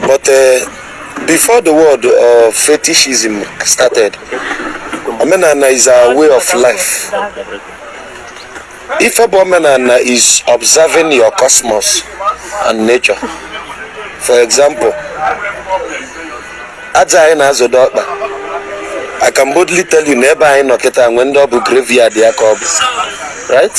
But uh, before the word of fetishism started, omenana is our way of life. If omenana is observing your cosmos and nature. For example, aja anyị na-azọdo ọkpa I can boldly tell you na ebe anyị nọ kịta o nwee ndị ọ bụ graveyard ha ka ọ bụ right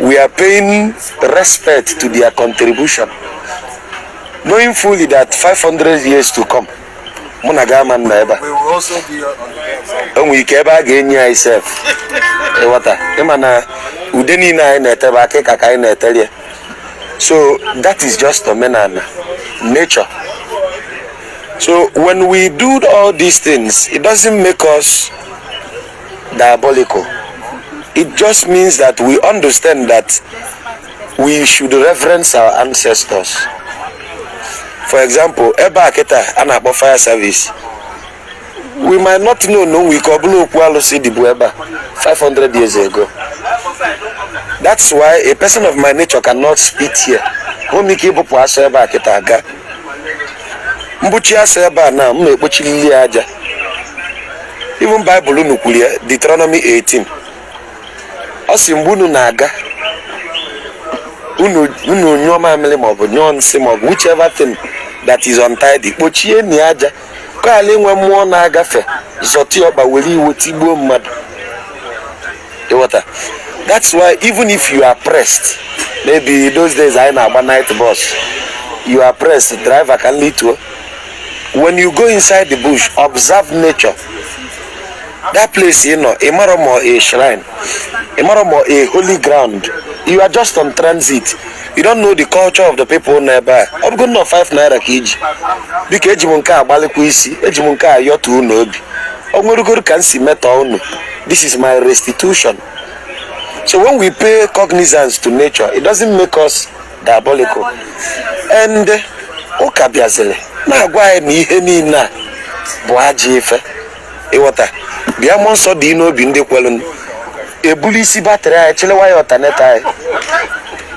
We are paying respect to their contribution, knowing fully that 500 years to come, mụ na gị ama anọ ebe a. O nwere ike ebe a ga-eni anyị sef ịghọta ịma na ude niile anyị na-ete bụ akịka ka anyị na-eteri ya. so that is just omenana nature so when we do all these things it doesn't make us diabolical. It just means that we understand that we should reverence our ancestors. For example, ebe a kịta a na-akpọ fire service. We might not know na o nwe ike ọ bụlụ okwu alụsị dịbu ebe a 500 years ago. That's why a person of my nature cannot spit here. Hụ m ike ịbụpụ asọ ebe a kịta aga. M bụcha asọ ebe a na m na-ekpochilili ya aja. even baịbụl unu kwuru ya Deuteronomy 18 ọ sị mgbe unu na-aga unu unu nyụọ mamịrị maọbụ nyụọ nsị maọbụ whichever thing that is untidy kpochienụ ya aja ka a ghara inwe mmụọ na-agafe zọta ọkpa were iwe tigbuo mmadụ ịghọta that's why even if you are pressed maybe those days anyị na-agba night bus you are pressed driver ka m lituo when you go inside the bush observe nature that place ị nọ ị marọ ma ọ a shrine ị marọ ma ọ a holy ground you are just on transit you don't know the culture of the people nọ ebe a ọ bụgo nnọọ 5 naira ka i ji biko eji m nke a gbalịkwa isi eji m nke a yọtuo unu obi o nwerugoro ka m si meta unu this is my restitution so when we pay cognizance to nature it doesn't make us diabolical ndị ụka bịaziri na-agwa anyị na ihe niine a bụ ajọ ife ịghọta bịa mmụọ nsọ dị n'obi ndị kwelụnụ. ebuli isi battery anyị chịlewa ya alternator anyị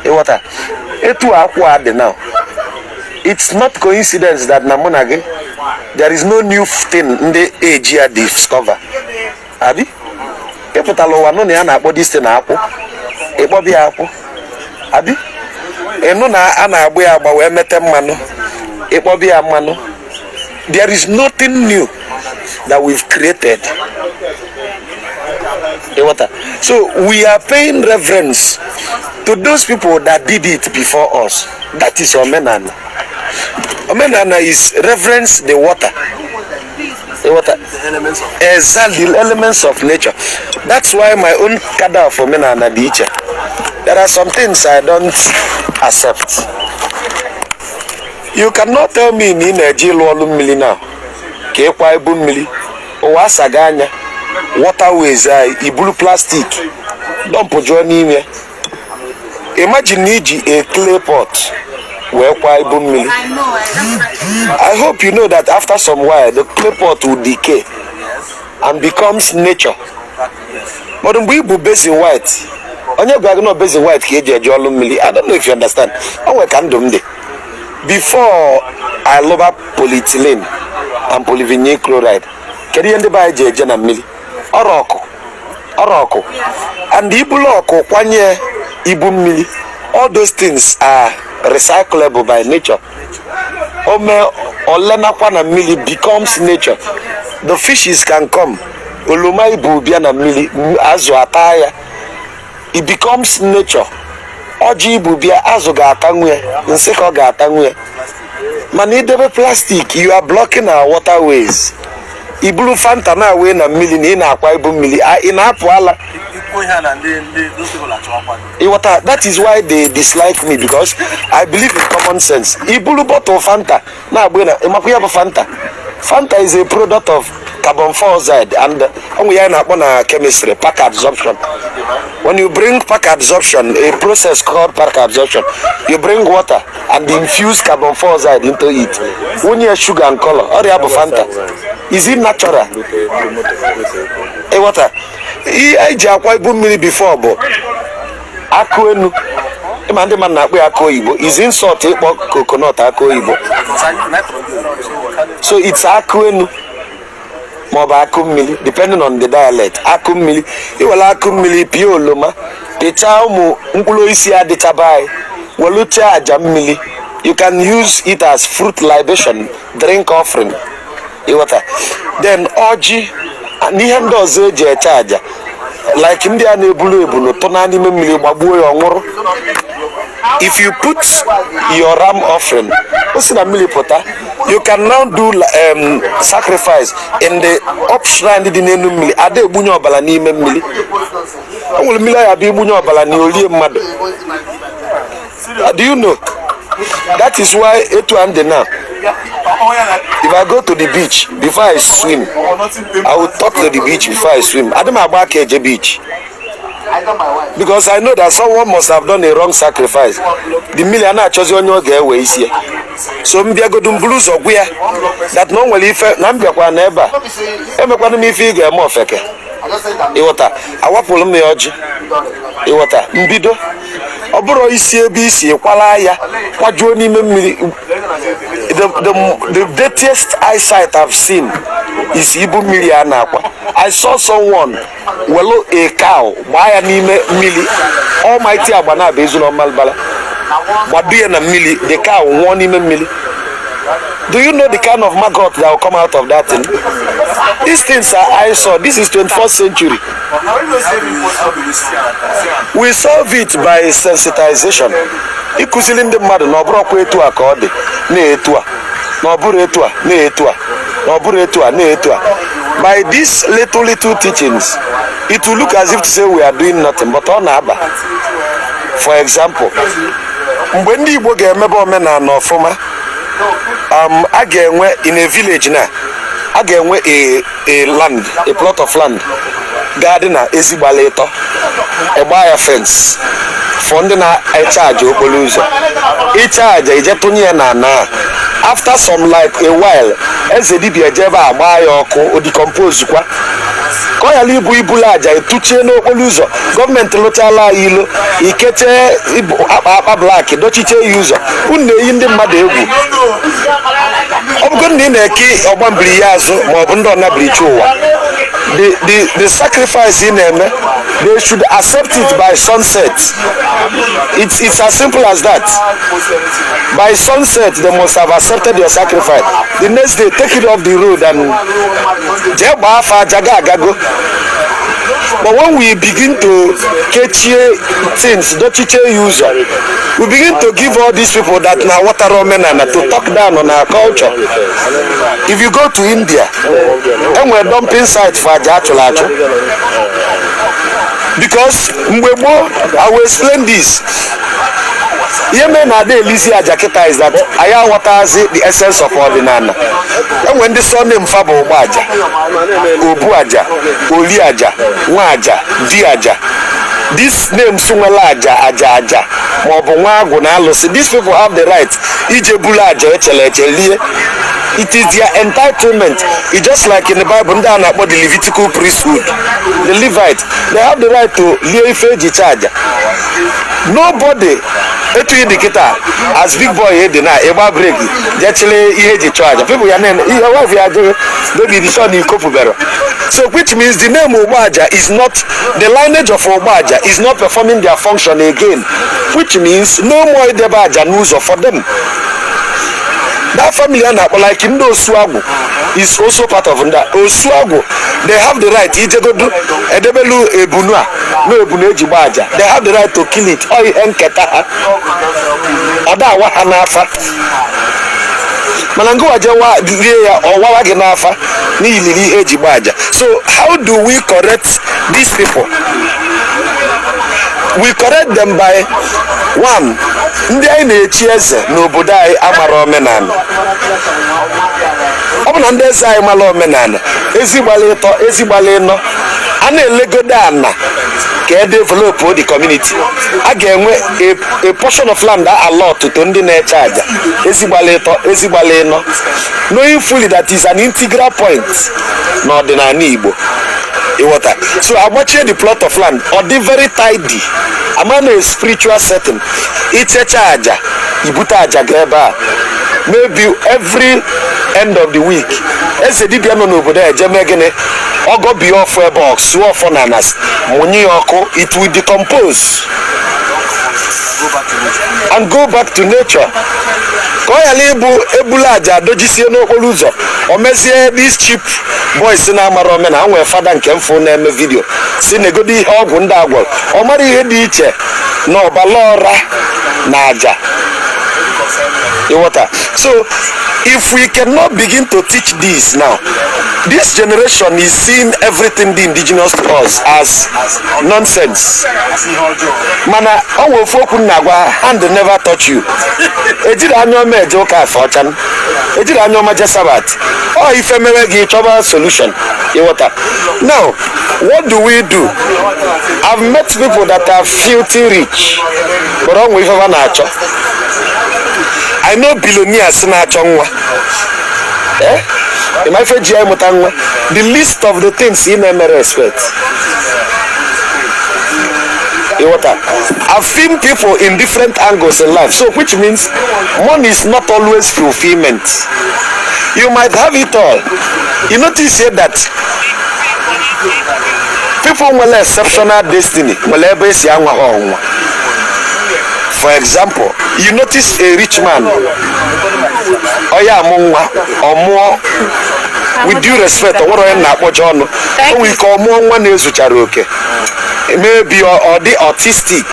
ịghọta etu akwụ a dị now it's not coincidence that na mụ na gị there is no new thing ndị age a discover abi ịpụtala ụwa nụ na a na-akpọ this thing akwụ ịkpọba ya akwụ abi ịnụ na a na-agba ya agba wee mete mmanụ ịkpọba ya mmanụ there is nothing new that we've created ịghọta so we are paying reverence to those people that did it before us that is omenana omenana is reverence the water ịghọta exactly the elements of nature that's why my own cadre of omenana dị iche there are some things i don't accept you cannot tell me na ị na-eje ịlụ ọlụ mmiri na ka ịkwa ibu mmiri ụwa asago anya waterways anyị iburu plastic dọmpụ juo n'ime imagine na iji a clay pot wee kwa ibu mmiri i hope you know that after some while the clay pot will decay and becomes nature but mgbe ibu basin white onye gwara gị na basin white ka eji eje ọlụ mmiri i don't know if you understand o nwere ka ndụ m dị before a lụba polyethylene and polyvinyl chloride kedu ihe ndị be anyị ji eje na mmiri ọrọ ọkụ ọrọ ọkụ and ibulu ọkụ kwanye ibu mmiri all those things are recyclable by nature o mee o lenakwa na mmiri becomes nature the fishes can come oloma ibu bịa na mmiri m- azụ ata ya it becomes nature ọjị ibu bịa azụ ga-atanwu ya nsịkọ ga-atanwu ya mana idebe plastic you are blocking our waterways iburu fanta na-awụ na mmiri na ị na-akwa ibu mmiri a- ị na-apụ ala ikwu ihe a na ndị ndị those people achọ ọkwa ịghọta that is why they dislike me because i believe in common sense iburu bottle fanta na-agba na ịmakwa ihe bụ fanta fanta is a product of carbon dioxide and o nwe ihe a na-akpọ na chemistry pack absorption when you bring pack absorption a process called pack absorption you bring water and infuse carbon dioxide into it wụnye sugar and color ọrọ ya bụ fanta is it natural ịghọta ihe eji akwa ibu mmiri before bụ akụ enu ịma ndị mmadụ na-akpọ ya akụ oyibo is insult ịkpọ coconut akụ oyibo so it's akụ enu maọbụ akụ mmiri depending on the dialect akụ mmiri iwere akụ mmiri pịa oloma pịchaa ụmụ mkpụrụ osisi a dịcha be anyị welu chụọ aja mmiri you can use it as fruit libation drink offering ịghọta then ọjị na ihe ndị ọzọ eji achụ aja like ndị a na-ebulu ebunu tụnye n'ime mmiri gbagbuo ya ọ nwụrụ if you put your ram offering o si na mmili pụta you can now do um, sacrifice in the up shrine dị n'enu mmili ada egbunye ọbala n'ime mmiri o nwere mmiri ọ ya-abụ i gbunye ọbala na o lie mmadụ Uh, do you know? That is why etu a m dị now. If I go to the beach before I swim, I will talk to the beach before I swim. Ada m agba aka eje beach. Because I know that someone must have done a wrong sacrifice. The mmili a na-achọzi onye ọ ga-ewe isi ya. So m bịagodu m buru ụzọ gwa ya that na o nwere ife na m bịakwa na ebe a emekwana m ife ị ga-eme ofeke. Ịghọta, awapụrụ m ya ọjị. Ịghọta, mbido ọ bụrọ i si ebe i si kwala ya kwajuo n'ime mmiri the, the, the dirtiest eyesight I've seen is ibu mmiri a na-akwa I saw someone welu a cow gbaa ya n'ime mmiri almighty Agbanabo Ezu na Ọmambala gbado ya na mmiri the cow nwụọ n'ime mmiri Do you know the kind of maggot that will come out of that thing? These things are eyesore. This is 21st century. But how, how, do you, how do you see that? we solve it by sensitization ịkụzili ndị mmadụ na ọ bụrọkwa etu a ka ọ dị na etu a na ọ bụrọ etu a na etu a na ọ bụrọ etu a na etu a by these little little teachings it will look as if to say we are doing nothing but ọ na-aba for example mgbe ndị igbo ga-emebe omenana ọfụma um, a ga-enwe in a village na a ga-enwe a, a land a plot of land ga-adị na ezi gbala ịtọ a gbaa ya fence for ndị na-achụ aja okpolo ụzọ ị chụọ aja i jee tụnye ya na na after some like a while eze dibia ejee ebe a gbaa ya ọkụ o decompose kwa ka ọ ghara ịbụ ibulu aja etuchie n'okpolo ụzọ government lụchala anyị ilo i kechie ibu akpa akpa black dochiche ya ụzọ unu na-eyi ndị mmadụ egwu ọ bụgo na ị na-eke ọgba mbiri ya azụ ma ọ bụ ndị ọnabirichi ụwa the the the sacrifice ị na-eme they should accept it by sunset it's it's as simple as that by sunset they must have accepted your sacrifice the next day take it off the road and jee gbaa afa aja gị agago But when we begin to kechie things, dochiche ya ụzọ, we begin to give all these people that na-awọtarọ omenana to talk down on our culture. If you go to India, e nwere dumping site for aja achụlụ achụ. Because mgbe gboo, I will explain this. ihe mere na ada elizi aja kịta is that anyị aghọtazi the essence of ọdịnala enwe ndị surname fa bụ ọgba aja obu aja oli aja nwa aja di aja this names nwela aja aja aja maọbụ nwa agwụ na alụsị these people have the right ije bulu aja echele eche lie it is their entitlement it's just like in the bible ndị a na-akpọ the levitical priesthood the levites they have the right to lie ife eji chee aja nobody etu ị dị kịta as big boy ị dị na ịgba brake je chịrị ihe eji chụọ aja people ya na-ene your wife ya jụrụ baby dị sure na iko pụbere so which means the name ogbaja is not the lineage of ogbaja is not performing their function again which means no more idebe aja n'ụzọ for them that family a na-akpọ like ndị osuagwu is also part of ndị a. osuagwu they have the right ijegodu edebelu ebunu a na ebunu eji gba aja they have the right to kill it ọ ihe nketa ha ada awa ha n'afa mana ngịwa je wa- rie ya ọ wawa gị n'afa n'iliri ihe eji gba aja so how do we correct these people we correct them by one ndị anyị na-echi eze n'obodo anyị amara omenala ọ bụ na ndị eze anyị mara omenala ezi gbalụ ịtọ ezi gbalụ ịnọ a na-elegodo ana ka e develop the community a ga-enwe a- a portion of land allot to ndị na-eche aja ezi gbalụ ịtọ ezi gbalụ ịnọ knowing fully that is an integral point n'ọdịnala igbo ịghọta so agbachie the plot of land ọ dị very tidy ama na a spiritual setting ichecha aja ibute aja ga ebe a maybe every end of the week eze dibịa nọ n'obodo a eje mee gịnị ọ gọbie ọfọ ebe ọ sụọ ọfọ na ana sị mụnye ya ọkụ it will decompose and go back to nature ka ọ ghara ịbụ ebula aja adojisie n'okporo ụzọ o mezie these cheap boys na-amara omenala nwere fada nke m fụ na-eme video sị negodo ihe ọgwụ ndị a gwọrọ ọ mara ihe dị iche na ọbala ọra na aja ịghọta so if we cannot begin to teach this now This generation is seeing everything the indigenous to us as nonsense. Mana ọ nwere ofu okwu m na-agwa hand never touch you. Ejirọ anya ọma eje ụka afe ọcha. Ejirọ anya ọma eje Sabbath. Ọ ife mere gị ị chọba solution ịghọta. Now, what do we do? I've met people that are filthy rich, but ọ nwere ife ha na-achọ. I know billionaires na-achọ nwa. Eh? ị ma ife ji anyị mụta nwa the list of the things ị na-eme expect ịghọta. I've seen people in different angles in life, so which means money is not always fulfillment. You might have it all. You notice here that people nwere exceptional destiny nwere ebe esi anwa ha ọnwa. For example, you notice a rich man ọ ya amụ nwa ọ mụọ with due respect o nwerọ onye m na-akpọcha ọnụ o nwere ike ọ mụọ nwa na-ezucharọ oke maybe ọ ọ dị autistic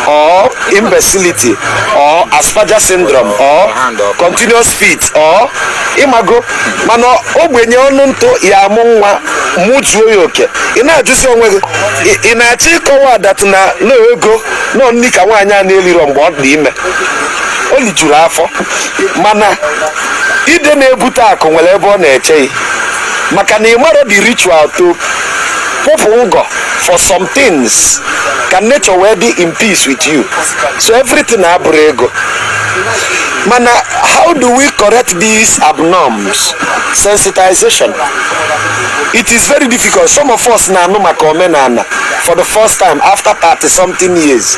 or imbecility or asperger syndrome or continuous fit or ịmago mana ogbenye ọnụ ntụ ya amụ nwa mụzuo ya oke ị na-ajụzi onwe gị ị- ị na-achọ ịkọwa that na na ego nọ nri ka nwaanyị a na-eliro mgbe ọ dị ime o lijuru afọ mana ide na-ebute akụ nwere ebe ọ na-eche gị maka na ịmarọ the ritual to kwụpụ ngọ for some things ka nature wee dị in peace with you so everything abụrọ ego mana how do we correct these abnorms sensitization it is very difficult some of us na-anụ maka omenana for the first time after 30 something years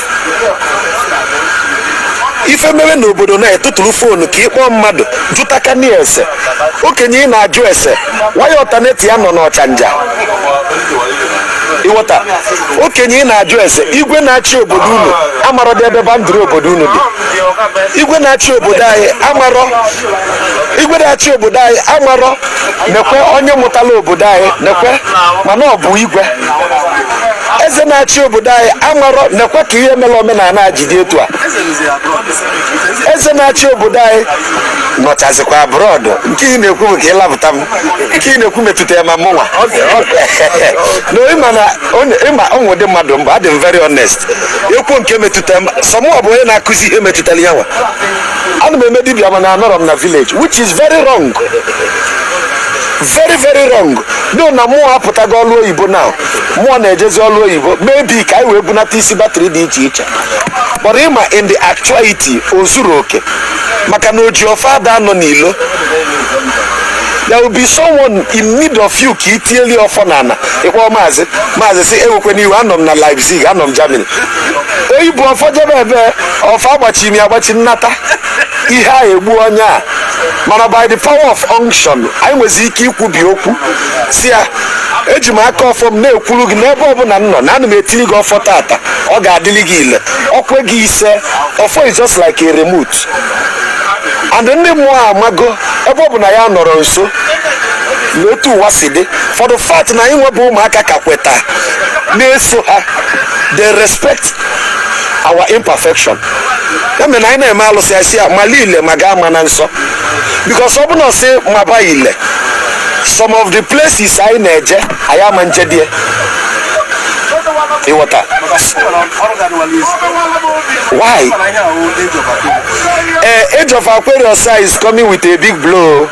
ife mere na obodo na-etụtụrụ foonu ka ịkpọọ mmadụ jụta okenye ese okenye ị na-ajụ ese waya alternate ya nọ n'ọchanja ịghọta okenye ị na-ajụ ese igwe na-achị obodo unu amarọdị ebe boundary obodo unu dị igwe na-achị obodo anyị amarọ igwe na-achị obodo anyị amarọ nekwe onye mụtala obodo anyị nekwe mana ọ bụ igwe eze na-achị obodo anyị amarọ nekwe ka ihe mere omenana ji dị etu a eze na-achị obodo anyị nọchazikwa abroad nke ị na-ekwu bụ ka ịlapụta m nke ị na-ekwu metụta ya ma mụnwa na ịma na onye- ịma ụmụ ụdị mmadụ m bụ adị m very honest ekwu nke metụta m so mụọ bụ onye na-akụzi ihe metụtara ya nwa ana m eme dibia mana anọrọ m na village which is very wrong very very wrong no na mụọ apụtago ọlụ oyibo na mụọ na-ejezi ọlụ oyibo maybe ka anyị wee bunata isi battery dị iche iche but ịma in the actuality o zuro oke maka na oji ọfọ ada anọ n'ilo there will be someone in need of you ka itieli ọfọ n'ana ịkpọ maazị maazị sị ewekwana iwe anọ m na leipzig anọ m germany oyi bụ ọfọ jebe ebe ọfọ agbachi imi agbachi nnata ihe a egbu onye a mana by the power of unction anyị nwezi ike ikwubi okwu si ya eji m aka ọfọ m na-ekwuru gị n'ebe ọbụla m nọ na ana m etili gị ọfọ taata ọ ga-adịlị gị ile o kwe gị ise ọfọ is just like a remote and ndị mmụọ amago ebe ọ bụ na ya nọrọ nso na otu ụwa si dị for the fact na anyị nwa bụ ụmụaka ka kweta na-eso ha they respect our imperfection ya mere na anyị na-eme alụsị a sị ya mala ile ma gị amana nsọ because ọ bụ na ọ sị maba ile some of the places anyị na-eje anyị ama njedie ị ghọta why eh, age of aquarius is coming with a big blow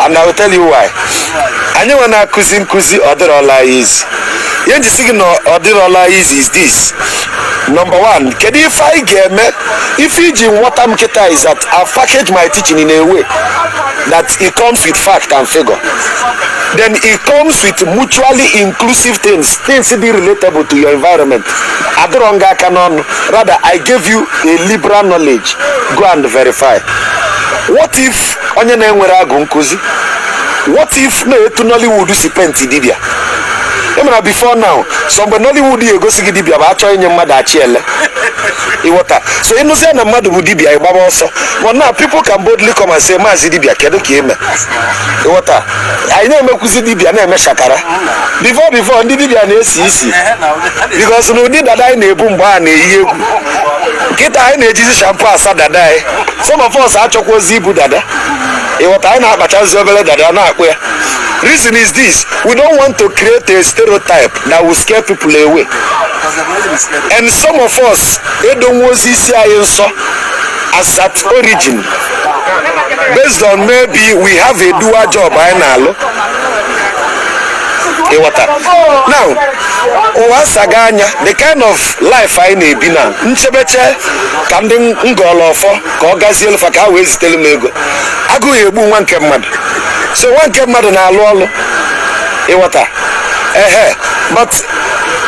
and i will tell you why anyị nwa na-akụzi nkụzi ọ dịrọla easy ihe m ji sị gị na ọ dịrọla easy is this number one kedu ife anyị ga-eme ife i ji nwọta m kịta is that i package my teaching in a way that it comes with fact and figure then it comes with mutually inclusive things things dị relatable to your environment adịrọ nga aka n'ọnụ Rather, I gave you a liberal knowledge. Go and verify. What if onye na-enwerọ agwụ nkụzi? What if na etu Nollywood si penti dibịa? Ị ma na before now, sọ mgbe Nollywood ya-egosi gị dibịa bụ a chọọ inye mmadụ achị ele. Ị ghọta. So ị nụzie na mmadụ bụ dibịa ị gbaba ọsọ. But now people can boldly come and say, Maazị dibịa, kedu ka ị mee? Ị ghọta. anyị na-emekwuzi dibịa na-eme shakara before before ndị dibịa na-esi isi because na ụdị dada anyị na-ebu mgbe a na-eyi egwu kịta anyị na-ejizi shampoo asa dada anyị some of us achọkwarọzi ibu dada ị ghọta anyị na-akpachazi obere dada na-akpụ ya reason is this we don't want to create a stereotype that will scare people away and some of us edowerọzi isi anyị nsọ as at origin based on maybe we have a dual job anyị na-alụ ị ghọta now ụwa asago anya the kind of life anyị na-ebi now m chebe eche ka ndị m gọọlụ ọfọ ka ọ gazielụ fa ka ha wee zitere m ego agụụ egbuo nwa nke mmadụ so nwa nke mmadụ na-alụ ọlụ ị ghọta ehe but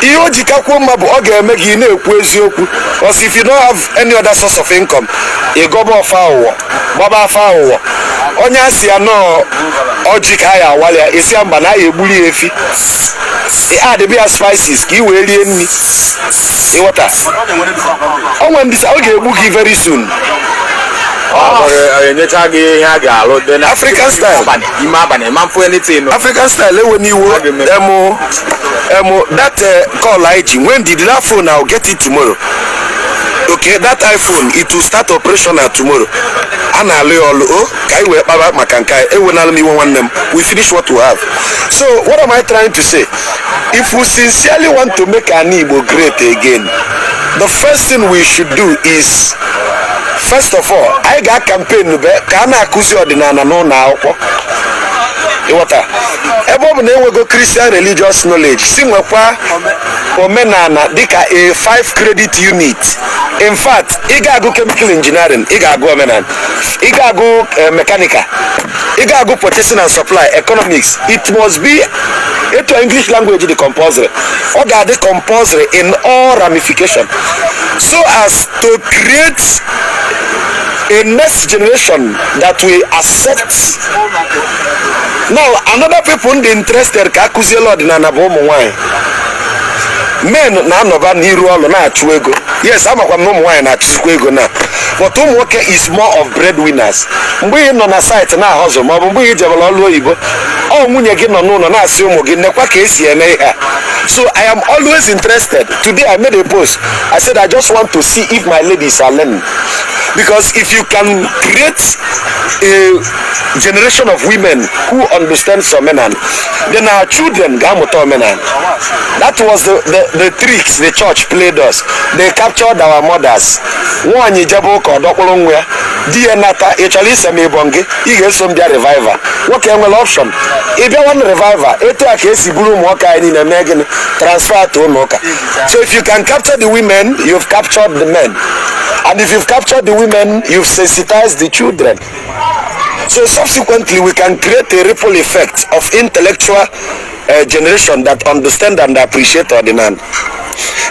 ihe o ji kakwuo mma bụ ọ ga-eme gị ị na-ekwu eziokwu because if you don't have any other source of income ị gọba ọfọ aghụghọ gbaba afa aghụghọ onye a sị ya na ọ ọjị ka a ya-awalị ya ị sị ya mba na a ya-egbuli ya efi ị addịbe ya spices ka ị wee rie nri ị ghọta o nwere ndị sa- ọ ga-egbu gị very soon enyecha gị ihe a ga-alụ dị na African style. ime abalị ma mfụ anything nụ. african style ewe n'iwu Ọ ga-eme. emu emu that uh, call anyị ji when did that phone i will get it tomorrow okay that iphone it will start operational tomorrow a na-alụ ya ọlụ o ka anyị wee kpaba maka nke anyị ewenala m iwe nwanne m we finish what we have so what am i trying to say if we sincerely want to make ana igbo great again the first thing we should do is first of all anyị ga campaign be ka a na-akụzi ọdịnana n'ụnọ akwụkwọ ị ghọta ebe ọ bụ na e nwego christian religious knowledge si nwekwa omenana dịka a 5 credit unit in fact ị ga-agụ chemical engineering ị ga-agụ omenana ị ga-agụ eh, mechanical ị ga-agụ purchasing and supply economics it must be etu english language dị compulsory ọ ga-adị compulsory in all ramification so as to create a next generation that will accept now another people m dị interested ka a kụzielụ ọdịnala bụ ụmụ nwanyị men na-anọba n'iru ọlụ na-achụ ego yes amakwa m na ụmụ nwaanyị na-achụzikwa ego now but ụmụ nwoke is more of breadwinners mgbe ị nọ na site na-ahustle maọbụ mgbe ị jebelu ọlụ oyibo ọ nwunye gị nọ n'ụnọ na-asị ụmụ gị nekwa ka e si eme ihe so i am always interested today i made a post i said i just want to see if my ladies are learning because if you can create a generation of women who understands omenana then our children ga-amụta omenana that was the, the, the tricks the church played us they captured our mothers nwaanyị jebe ụka ọ dọkpụrụ nwa ya di ya nata ị chọrọ ise m ịbọ gị ị ga-eso m bịa revival nwoke enwerọ option ị fụ ya na revival etu a ka e si buru ụmụ nwoke anyị niile mee gịnị transfer to ụnọ ụka so if you can capture the women you've captured the men and if you've captured the women you've sensitized the children So subsequently, we can create a ripple effect of intellectual uh, generation that understand and appreciate ọdịnana.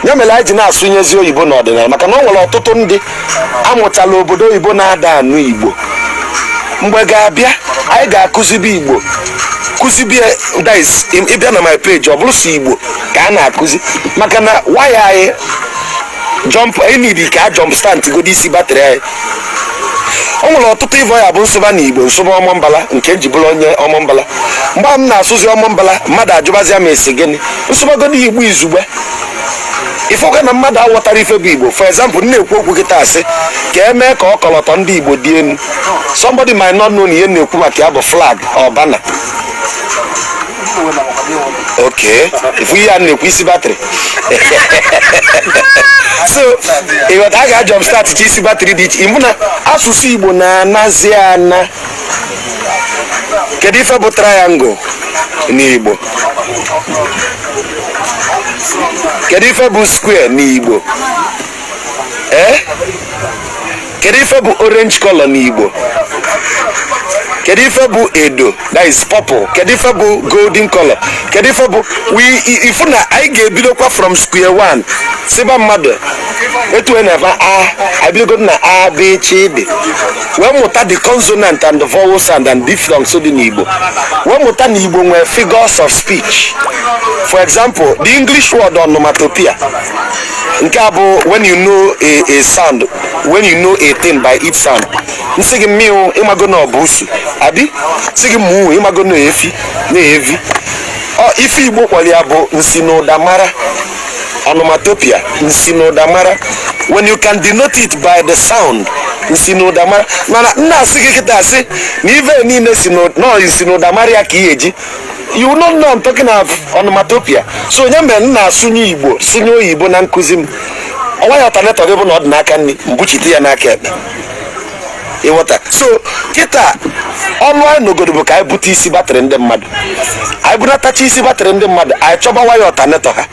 ya mere anyị ji na-asụnyezi oyibo n'ọdịnala maka na ọ nwere ọtụtụ ndị a mụtala obodo oyibo na-ada anụ igbo mgbe ga-abịa anyị ga-akụzibe igbo kụzi because ị bịa na my page ọ bụrọ sọ igbo ka a na-akụzi maka na waya anyị jump e need ka a jump start godi isi battery anyị o nwere ọtụtụ even ya bụ m sụba na igbo m sụba ọmambala nke m ji bụrụ onye ọmambala mgbe a m na-asụzi ọmambala mmadụ ajụbazia m ị sị gịnị m sụbagodu igbo izugbe ị fụkwa na mmadụ aghọtarọ ife bụ igbo for example m na-ekwu okwu kịtaa sị ka e mee ka ọkọlọtọ ndị igbo dị enu somebody might not know na ihe m na-ekwu maka ya bụ flag or banner okay ife a na-ekwu isi batrị so ịghọta a ga-ajumpstart ka isi batrị dị iche ịma na asụsụ igbo na-anazi ana kedu ife bụ triangle n'igbo kedu ife bụ square n'igbo ee kedu ife bụ orange color n'igbo kedu ife bụ edo that is purple kedu ife bụ golden color kedu ife bụ we i- ịfụ na anyị ga-ebidokwa from square one siba mmadụ etu e na-ebe a abidogo na a b c d wee mụta the consonant and the vowel sound and diphthongs dị n'igbo wee mụta na igbo nwere figures of speech for example the english word onomatopoeia nke a bụ when you know a, a sound when you know a thing by its sound m sị gị mịaụ ịmago na ọ bụ busu a bịa sị gị muu ịmago na efi na evi ọ ife igbo kpọlụ ya bụ nsi na ụda mara onomatopoeia nsi na ụda mara when you can denote it by the sound nsi na ụda mara mana m na-asị gị kịta asị na ive niile si na nọọ nsi na ụda mara ya ka ị eji you no know I'm talking of onomatopoeia so ọ ya mere m na-asụnye igbo sụnye oyibo na nkụzi m ọ waya alternator gị bụ na ọ dị n'aka nri m buchite ya n'aka ekpe ịghọta so kịta ọlụ anyị nọgodo bụ ka anyị bute isi batrị ndị mmadụ anyị bunatacha isi batrị ndị mmadụ anyị chọba waya alternator ha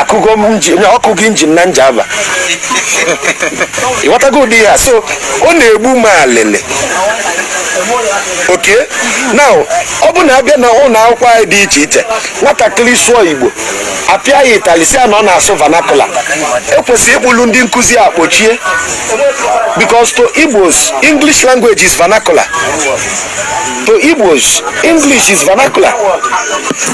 akụgo m injin ọ kụgo injin na njava ịghọtago ụdị ya so ọ na-egbu m alịlị okay now ọ bụ na a bịa na ụlọ akwụkwọ anyị dị iche iche nwatakịrị sụọ igbo a pịa ya ịtali sị ya na ọ na-asụ vernacular e kwesịrị ịkpụlụ ndị nkụzi a kpọchie because to igbos english language is vernacular to igbos english is vernacular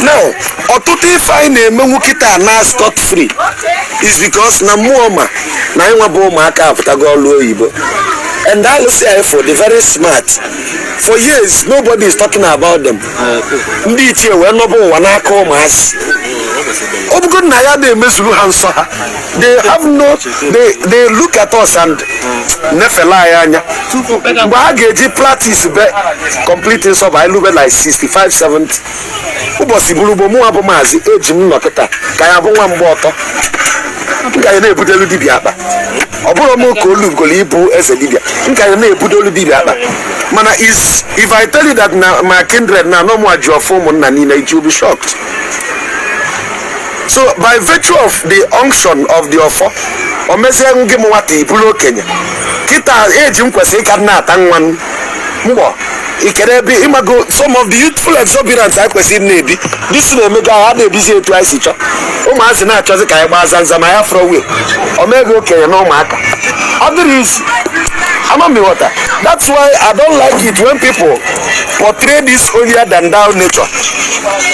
now ọtụtụ ife anyị na-emenwu kịta na scot free is because na mmụọ ma na anyị nwa bụ ụmụaka apụtago ọlụ oyibo and alụsị anyị fa dị very smart for years nobody is talking about them ndị ichie wee nọba ụwa n'aka ụmụazị ọ bụgo na ya na-emezuru ha nsọ ha they have no they, they look at us and nefele anyị anya mgbe ha ga-eji practice be complete nsọ bụ anyị lube like 65 70 ụbọsị bụrụ gboo mụnwa bụ maazị ejim nọ kịta ka ya bụ nwa mgba ọtọ m ka ya na-ebudelu dibịa akpa ọ bụrọ m ka o lugolu ịbụ eze dibịa m ka ya na-ebudolu dibịa akpa mana if i tell you that na my kindred na ọ mụa ji ọfọ ụmụnna niile you will be shocked so by virtue of the unction of the ọfọ o mezie gị m nwata ị bụlụ okenye kịta ejim kwesịrị ịka na-ata nwa m mgbọ ikere ebe ịmago some of the youthful exuberance anyị kwesịrị na-ebi disi na-emego anyị a na-ebizi etu anyị si chọọ ụmụazị na-achọzi ka anyị gbaa zanza ma ya fọrọ wee omego okenye na ụmụaka ọ dịrọ easy ama m ị ghọta that's why i don't like it when people portray this holier than thou nature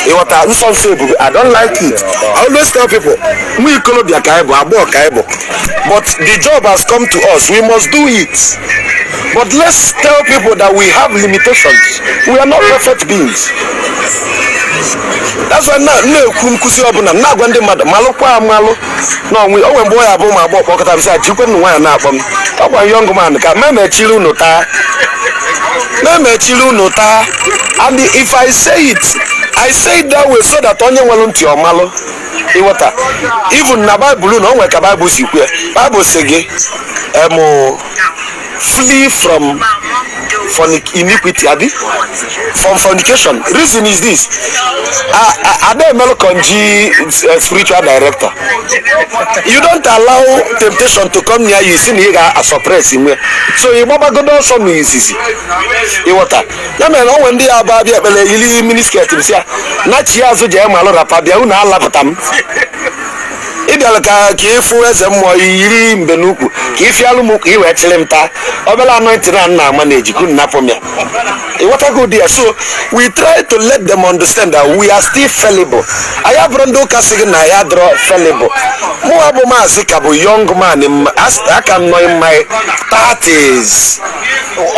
ị ghọta nsọ nsọ ebube i don't like it i always tell people nwa ikolobịa ka anyị bụ agbọghọ ka anyị bụ but the job has come to us we must do it But let's tell people that we have limitations. We are not perfect beings. That's why na- na-ekwu nkụzi ọbụla m na-agwa ndị mmadụ malụkwa amalụ na o nwe o nwe mgbe ọ ya-abụ ma agba ọkpọkọta m sị ajikwe m nwaanyị na-akpọ m ọkwa young man ka ma emechiri unu taa ma emechiri unu taa and if I say it I say it that way so that onye nwere ntị ọ malụ ị ghọta even na Bible na o nwere ka Bible si kwue Bible sị gị emụ flee from fornic iniquity abi from fornication reason is this ah ah adị emelụ konji eh, spiritual director you don't allow temptation to come near you ị sị na ị ga-asuppress nwe so ị gbabagodo ọsọ na izizi ị ghọta ya mere o nwe ndị ya ba bịa ekpere yiri miniskirt m sị ya nachi azụ jee malụ wrapper bịa unu alapụta m ị bịara ka ka ị fụ eze mmụọ yiri mbe n'ukwu ka ị fịalụ m ukwu ị wee chịrị m taa obere anointing a nna ama na-ejikụ napụ m ya ị ghọtago ụdị ya so we try to let them understand that we are still fallible anyị abụrọ ndị ụka sị gị na ya adịrọ fallible mụwa bụ maazị ka bụ young man in my- as- a ka m nọ in my 30s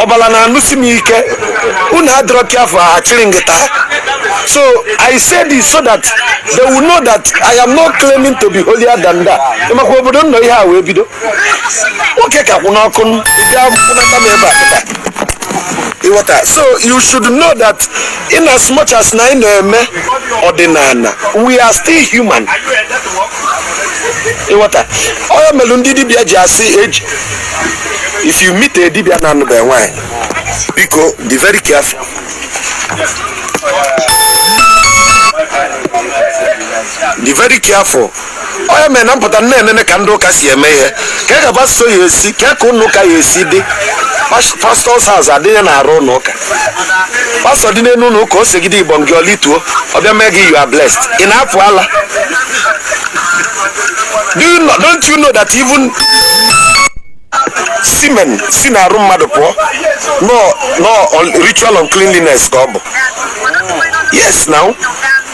ọbala na-anụsi m ike unu adịrọ careful achịrị m gị taa so i say this so that they will know that i am not claiming to be holier than thou maka obodo nnọ ihe a wee bido nwoke ka kwụ n'ọkụ m bịa kwụnata m ebe a pụta ị ghọta so you should know that in as much as na anyị na-eme ọdịnala we are still human ị ghọta ọ ya mere ndị dibịa ji asị eji if you meet a dibịa na-anụbeghị nwaanyị biko be very careful be very careful ọ ya mere na m pụta nene nene ka ndị ụka si eme ihe ka e gaba so ya esi ka ka ụnọ ụka ya-esi dị pastor's house adịghị n'arụ ụlọ ụka pastor dị n'elu ụlọ ụka o segide igbo gị o lituo ọ bịa mee gị you are blessed ị na-apụ ala Do you know, don't you know that even semen si n'arụ mmadụ pụọ na ọ ritual uncleanliness ka ọ bụ yes now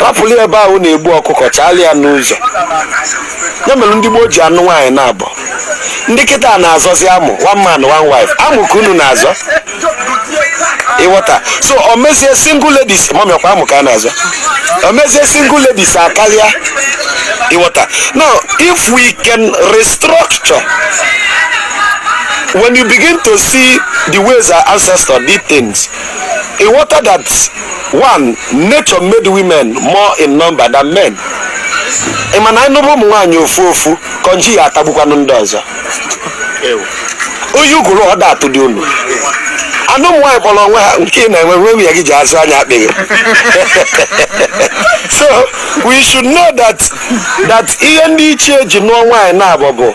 rapụrụ ya ebe ahụ na-egbu ọkụkọ chaalụ ya n'ụzọ ya mere ndị gboo ji anụ nwaanyị naabọ ndị kịta na-azọzi amụ one man one wife amụ ka unu na-azọ ịghọta so o mezie single ladies mummy ọ kwa amụ ka a na-azọ o mezie single ladies akarịa ịghọta now if we can restructure when you begin to see the ways our ancestors did things Ịwọta that one nature made women more in number than men. Ị ma na anyị nụbe ụmụ nwaanyị ofu ofu konji ya-atagbukwanụ ndị ọzọ. Oyi ụgụrụ ọ da-atụ dị unu. And ụmụ nwaanyị kpọrọ onwe ha nke ị na-enwe nwe nwunye gị ji azụ anya akpịghị. so we should know that that ihe ndị ichie ji nụọ nwaanyị naabọ bụ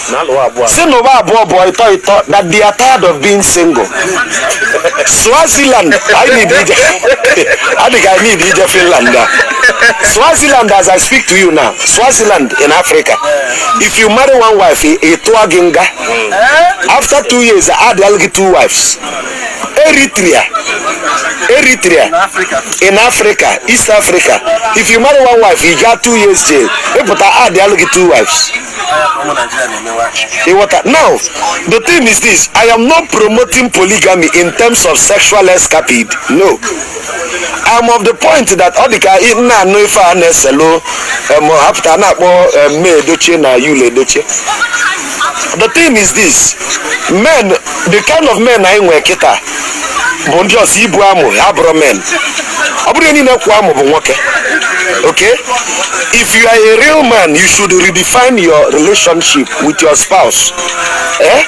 si n'ụwa abụọ bụ ịtọ ịtọ that they are tired of being single swaziland i need ije adịghị i need ije finland na swaziland as i speak to you now swaziland in africa if you marry one wife ị- a tụọ gị nga after two years adịal gị two wives eritrea eritrea in africa east africa if you marry one wife you get two years jail ị pụta adịal gị two wives Ịwọta. Now, the thing is this I am not promoting polygamy in terms of sexual escapade. No. I'm of the point that ọ dịka ị na-anụ ife a na-eselu em, actor a na-akpọ em, May Edochie na Yul Edochie. The thing is this men, the kind of men anyị nwere kịta bụ ndị just ibu amụ abụrọ men ọ bụrọ niile kwụ amụ bụ nwoke okay if you are a real man you should redefine your relationship with your spouse eh?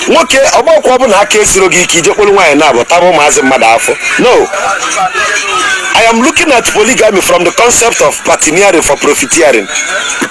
nwoke ọ gbakwa bụ na aka esiro gị ike i je kpọlụ nwaanyị naabọ tagbuo ụmụazị mmadụ afụfụ no i am looking at polygamy from the concept of partnering for profiteering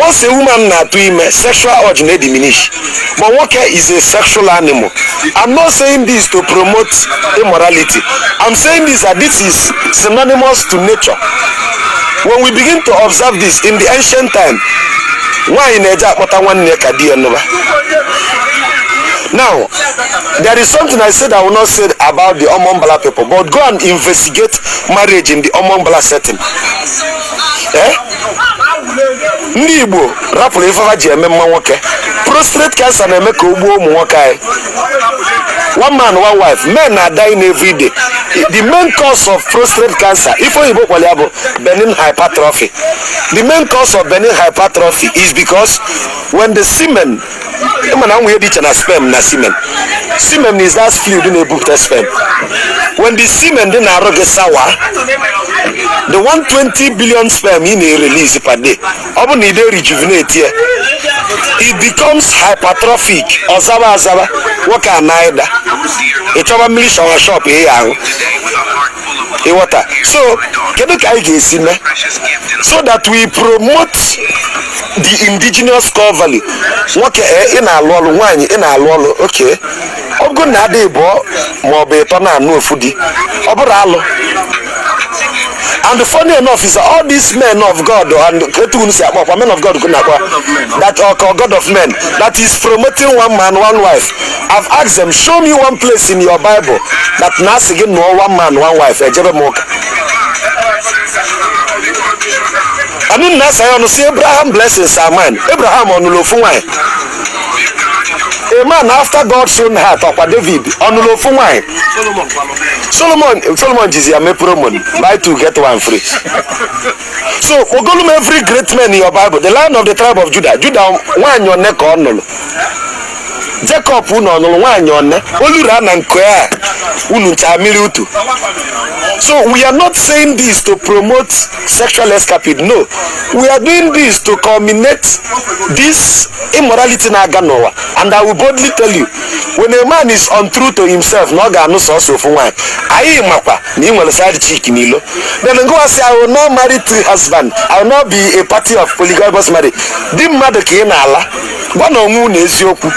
once a woman na-atụ ime sexual urge na diminish but nwoke is a sexual animal i'm not saying this to promote immorality i'm saying this that this is synonymous to nature when we begin to observe this in the ancient time nwaanyị na-eje akpọta nwanne ya ka di ya nụba now there is something i said i will not say about the omombala people but go and investigate marriage in the omombala setting Eh? ndị igbo rapụrụ ife fa ji eme mma nwoke prostate cancer na-eme ka o gbuo ụmụ nwoke anyị one man one wife men are dying every day the main cause of prostate cancer ife oyibo kpọrọ ya bụ benign hypertrophy the main cause of benign hypertrophy is because when the semen ị ma na e nwe ihe dị iche na sperm na semen semen is that fluid na-ebupụta sperm when the semen dị n'arụ gị sour the 120 billion sperm ị na-erelease per day ọ bụ na ị da-erejuvenate ya it becomes hypertrophic ọ zaba azaba nwoke a na-ada ị chọba mmiri shawa shop ị ya ahụ ịghọta so kedu ka anyị ga-esi mee so that we promote the indigenous core value nwoke ee ị na-alụ ọlụ nwaanyị ị na-alụ ọlụ okay ọ bụrụ na a dị ịbụọ ma ọ bụ ịtọ na-anụ ofu di ọ bụrụ alụ and funny enough is that all these men of God and etu unu si akpọ ọkwa men of God kwụ nakwa that uh, ka God of men that is promoting one man one wife I've asked them show me one place in your Bible that na-asị gị nụọ one man one wife ejebe m ụka Anyị na-asa ya ọnụ sị Abraham blessings are mine. Abraham ọ nụlụ ofu nwanyị. A man after God's own heart ọkwa David ọ nụlụ ofu nwanyị. Solomon Solomon jizi ya mee promo buy two get one free. So kpọgolu m every great man in your Bible the lion of the tribe of Judah Judah nwanyị one ka ọ nụlụ. Jacob unu ọ nụrụ nwaanyị one oluru ana nke a unu ncha mmiri utu so we are not saying this to promote sexual escapade no we are doing this to culminate this immorality na-aga n'ụwa and i will boldly tell you when a man is untrue to himself na ọ ga-anụ sọsọ ofu nwaanyị anyị makwa na ị nwere side chick n'ilo then ngwa sị i will not marry three husband i will not be a party of polygamous marriage di mmadụ ka ị na-ala gwanụ onwe unu eziokwu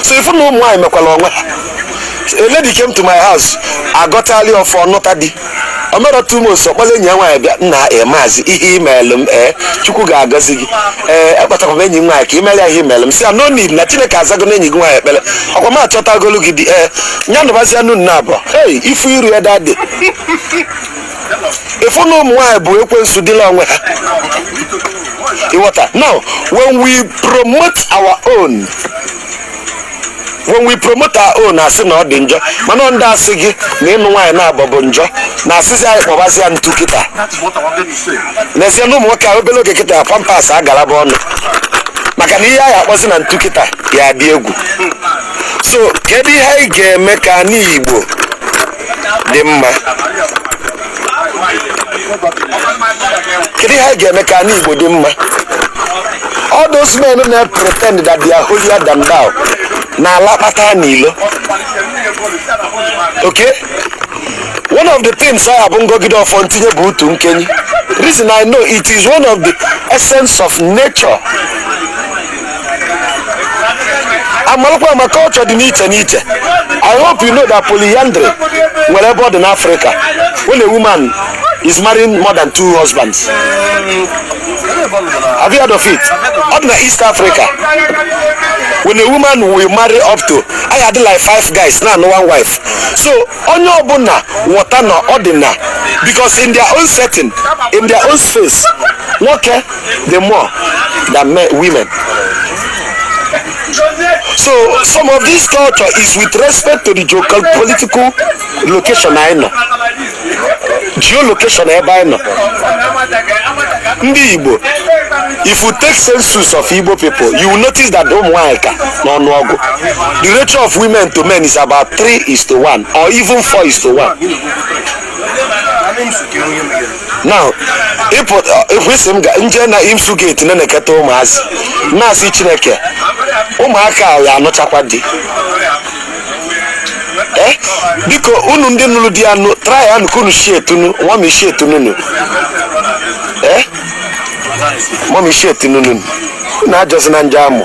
so ịfụ na ụmụ nwaanyị mekwara onwe ha a lady came to my house agọtali ọfọ nụta di o mere two months ọ kpọlụ enyi ya nwaanyị bịa nna e maazị ihe i meelụ m ee chukwu ga-agọzi gị ee akpọtara m enyi m nwaanyị ka i mere ya ihe i meelụ m sị ya no need na chineke azago na enyi gị nwaanyị ekpere ọkwa m achọtagolu gị di ee ya nụbazia unu naabọ hey ịfụ iru ya that day ịfụ na ụmụ nwaanyị bụ ekwensu dịlị onwe ha ị ghọta now when we promote our own when we promote our own a sị na ọ dị njọ mana ndị asị gị na ịnụ nwaanyị naabọ bụ njọ na-asịzi anyị kpọbazi ya ntu kịta n'ezie na ụmụ nwoke a obere oge kịta pampers agalaba ọnụ maka na ihe anyị akpọzi na ntu kịta ya dị egwu so kedu ihe anyị ga-eme ka ani igbo dị mma kedu ihe anyị ga-eme ka ani igbo dị mma all those men na pretend that they are holier than thou na-ala kpata n'ilo okay one of the things I have ngọgide ọfọ ntinye bụ utu nkeni reason I know it is one of the essence of nature amalụkwa m na culture dị n'iche n'iche i hope you know that polyandry nwere ebe ọ dị n'africa when a woman is marrying more than two husbands have you heard of it ọ dị na east africa when a woman will marry up to anyị adị like five guys na-anụ one wife so onye ọbụla ghọta na ọ dị na because in their own setting in their own space nwoke the more than men, women. So some of this culture is with respect to the geopolitical location I know. Geolocation ebe I know. Ndị Igbo, if you take census of Igbo people, you will notice that ụmụ nwanyị ka n'ọnụọgụ. The ratio of women to men is about 3 is to 1 or even 4 is to 1. now ịpụta ịpụ isi m ga nje na imsu gate na-eneketa ụmụazị na-asị chineke ụmụaka a ya-anụchakwa di Eh, biko unu ndị nụrụ di ya nụ try ya nụka unu shi etunu nwa m ishi etunu nụ Eh, nwa m ishi etunu nụ unu ajọzi na nje amụ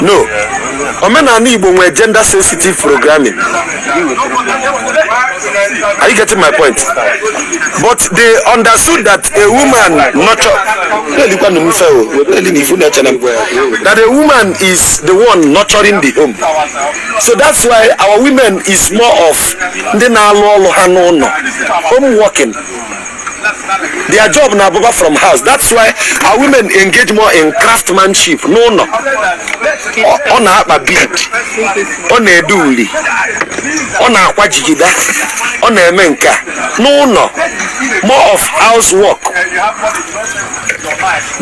no omenani igbo nwere gender sensitive programming are you getting my point but they understood that a woman nurture na-elikwanụ m ife o na-eli na ifu na-eche na mgbe that a woman is the one nurturing the home so that's why our women is more of ndị na-alụ ọlụ ha n'ụnọ home working their job na-abụba from house that's why our women engage more in craftsmanship n'ụnọ Ọ- ọ na-akpa bead ọ na-ede uli ọ na-akwa jigida ọ na-eme nke a n'ụnọ more of house work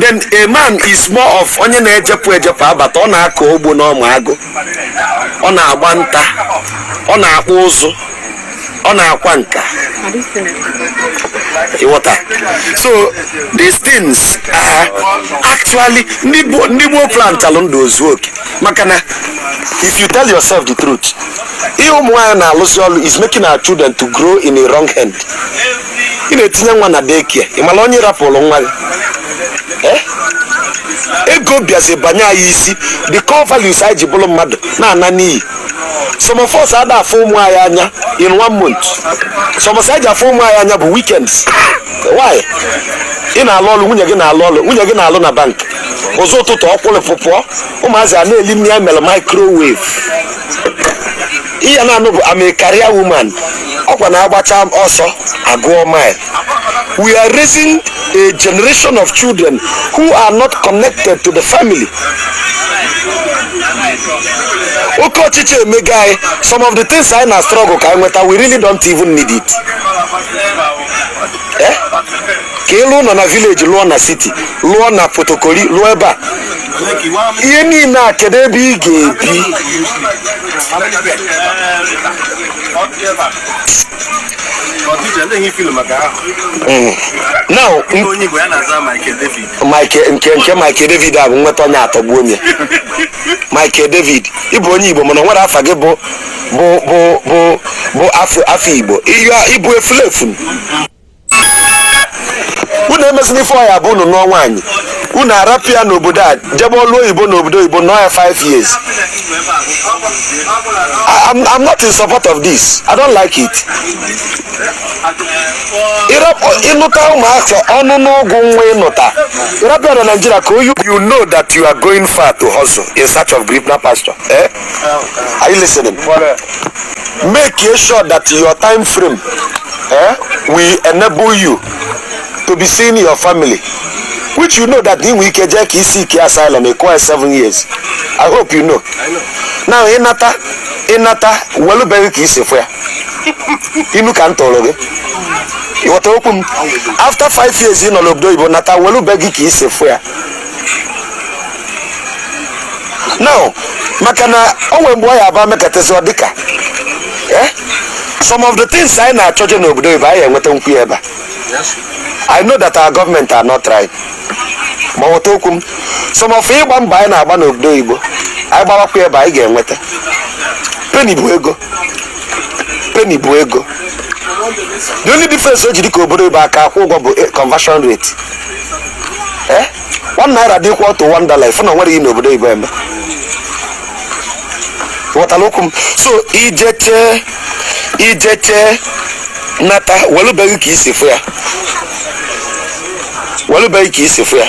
then a man is more of onye na-ejepụ ejepụ abata ọ na-akọ ugbo n'ọma agụ ọ na-agba nta ọ na-akpụ ụzụ ọ na-akwa nka ị ghọta so these things are actually ndị Igbo- ndị gboo plantalụ ndụ o zu oke maka na if you tell yourself the truth ihe ụmụ nwaanyị na-alụzi ọlụ is making our children to grow in a wrong hand ị na-etinye nwa na daycare ị marọ onye rapụlụ nwa gị Eh? ego bịazi banye anyị isi the core values anyị ji bụlụ mmadụ na-ana n'iyi some of us ada afụ ụmụ anyị anya in one month some of us eji afụ ụmụ anyị anya bụ weekends why ị na-alụ ọlụ nwunye gị na-alụ ọlụ nwunye gị na-alụ na bank ụzọ ụtụtụ o kulipụ pụọ ụmụazị a na-eli nni a melụ microwave ihe a na-anụ bụ I'm a career woman ọkwa na agbacha ọsọ agụọ mile we are raising a generation of children who are not connected to the family. oke ọchịchọ emego anyị some of the things anyị na struggle ka anyị nweta we really don't even need it Eh? ka ị lụọ ụlọ na village lụọ na city lụọ na Port Harcourt lụọ ebe a ihe niile a kedu ebe ị ga-ebi Mm. now Michael nke nke Michael David a bụ nweta onye atọgbu onye Michael David ị bụ onye Igbo mana o nwere afa gị bụ bụ bụ bụ bụ afa afa Igbo ị bụ efulefu unu emezina ife ọ ya-abụ unu nụọ nwaanyị unu arapụ ya n'obodo a jebe ọlụ oyibo n'obodo oyibo nọọ ya 5 years I- I'm, I'm not in support of this I don't like it ị rapụ ị nụta ụmụaka ọnụ n'ọgwụ nwa ị nụta ị rapụ ya na Naịjirịa ka oyi you know that you are going far to hustle in search of greener pasture eh? are you listening make sure that your time frame eh, will enable you to be seeing your family which you know that i nwe ike jee ka i seek asylum ekwe seven years i hope you know now ị nata ị nata welu be gị ka i si fụ ya inu ka m tụrụ gị ị ghọta okwu m after five years ị nọ n'obodo oyibo nata welu be gị ka i si fụ ya now maka na o nwere mgbe ọ ya-abụ e mekatazi ọ dịka eh? some of the things anyị na-achọje n'obodo oyibo anyị enwetanwu ya ebe a. I know that our government are not right ma ghọta okwu m some of ịgba mbọ anyị na-agba n'obodo oyibo anyị gbawakwa ebe a anyị ga-enweta penny bụ ego penny bụ ego the only difference o ji dị ka obodo oyibo aka akwụ ụgwọ bụ eh, conversion rate Eh? one naira dị equal to one dollar ị fụ na nwere gị n'obodo oyibo eme ghọtara okwu m so i jechaa i jechaa nata welu be gị ka i si fụ ya welu be gị ka i si fụ ya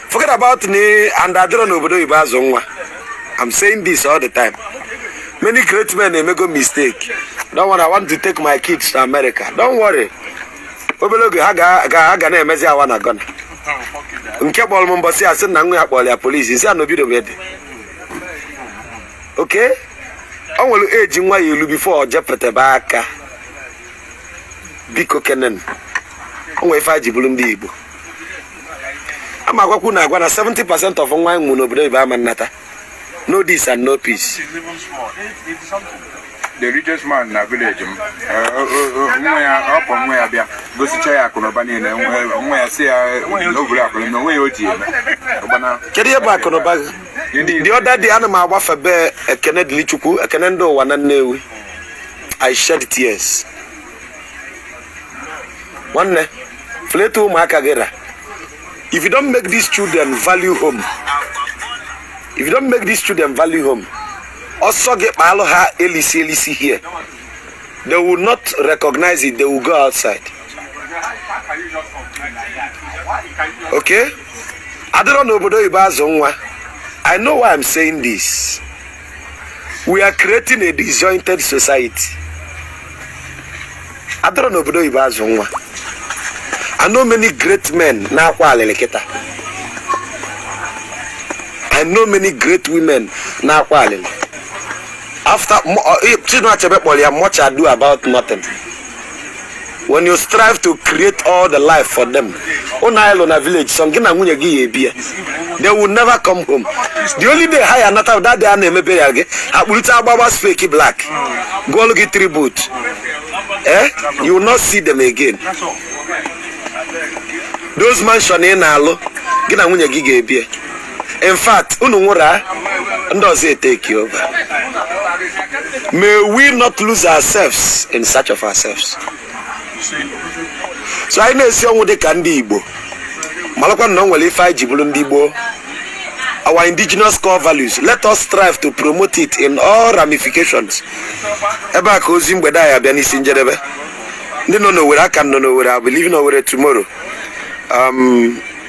forget about ni and a dịrọ anọ n'obodo oyibo azụ nwa i'm saying this all the time many great men emego mistake don't worry i want to take my kids to america don't worry obere oge ha ga na-emezi I wanna gonna nke kpọrọ m mbọsị a sị na nwa ya kpọrọ ya police sị ya na obido dị oke ọ nwere eji nwa ya elu before ọ jepụtaba aka biko kenen o nwere ife a ji bụrụ ndị igbo ama agwakwa unu agwa na 70 percent of nwa a mụ n'obodo oyibo ama anata know this and know peace the richest man na village m nwa ya ọ kpọ nwa ya bịa gosicha ya akụnụba niile nwa ya sị ya na ọ bụ akụnụba onwe ya o ji eme kedu ihe bụ akụnụba gị the other day ana m agbafe be ekene dili chukwu ekene ndị ụwa na nnewi i shed tears nwanne fleta ụmụaka gị ra if you don't make these children value home if you don't make these children value home ọ sọ gị kpaalụ ha elisi elisi here they will not recognize it they will go outside okay adịrọ n'obodo oyibo azụ nwa i know why i'm saying this we are creating a disjointed society adịrọ n'obodo oyibo azụ nwa I know many great men na-akwa alịlị kịta I know many great women na-akwa alịlị after Mo- uh, Chinua Achebe kpọrọ ya much ado about nothing when you strive to create all the life for them ụnọ a ị lụ na village sọ gị na nwunye gị ya-ebi ya they will never come home the only day ha ya-anata that day a na-emebe ya gị akpụrịta agbagba fake black gụọlụ gị tribute eh you will not see them again those mansion ị na-alụ gị na nwunye gị ga-ebi ya in fact unu nwụrụ a ndị ọzọ e take over may we not lose ourselves in search of ourselves so anyị na-esi ọnwụ dị ka ndị igbo malakwa na o nwere ife anyị ji bụrụ ndị igbo our indigenous core values let us strive to promote it in all ramifications ebe a ka ozi mgbede a ya-abịa n'isi njedebe ndị nọ n'owere aka m nọ n'owere I'll be leaving owere tomorrow um,